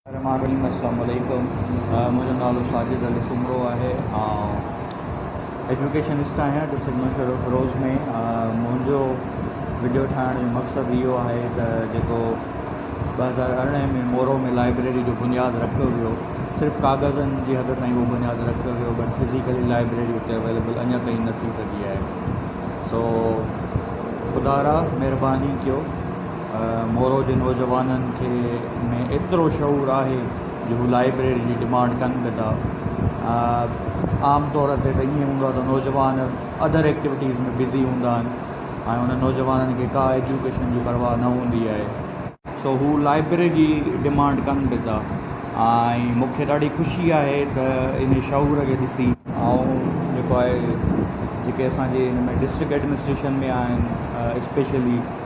الرحمٰن الرحيم السلام عليڪم منهنجو نالو ساجد علي سومرو آهي آئون ايجوڪيشنسٽ آهيان ڊسٽرڪٽ مشهور فروز ۾ منهنجو وڊيو ٺاهڻ جو مقصد اهو آهي ته جيڪو ٻه هزار ارڙهن ۾ مورو ۾ لائبريري جو بنياد رکيو ويو صرف ڪاغذن جي حد تائين اهو بنياد رکيو ويو بٽ فزيڪلي لائبريري اتي اويليبل اڃا تائين نه ٿي سگهي آهي سو خدارا مهرباني ڪيو مورو جي نوجوانن کي ۾ ايترو شعور آهي جو هو لائبريري جي ڊمانڊ ڪن به ٿا عام طور تي ته ائين هوندو آهي ته نوجوان اڌر ايڪٽيوٽيز ۾ بزي هوندا آهن ۽ انهن نوجوانن کي ڪا ايجوڪيشن جي پرواهه نه هوندي آهي سو هو لائبريري جي ڊمانڊ ڪن به ٿا ۽ مون کي ڏاڍي خوشي آهي ته ان شعور کي ڏسي آئون جيڪو آهي جيڪي اسان جي ان ۾ ڊسٽرڪٽ ايڊمنسٽريشن ۾ آهن اسپيشلي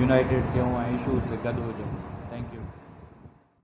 يونائيٽيڊ ٿيون ۽ اشوز تي گڏ هجون. Thank you.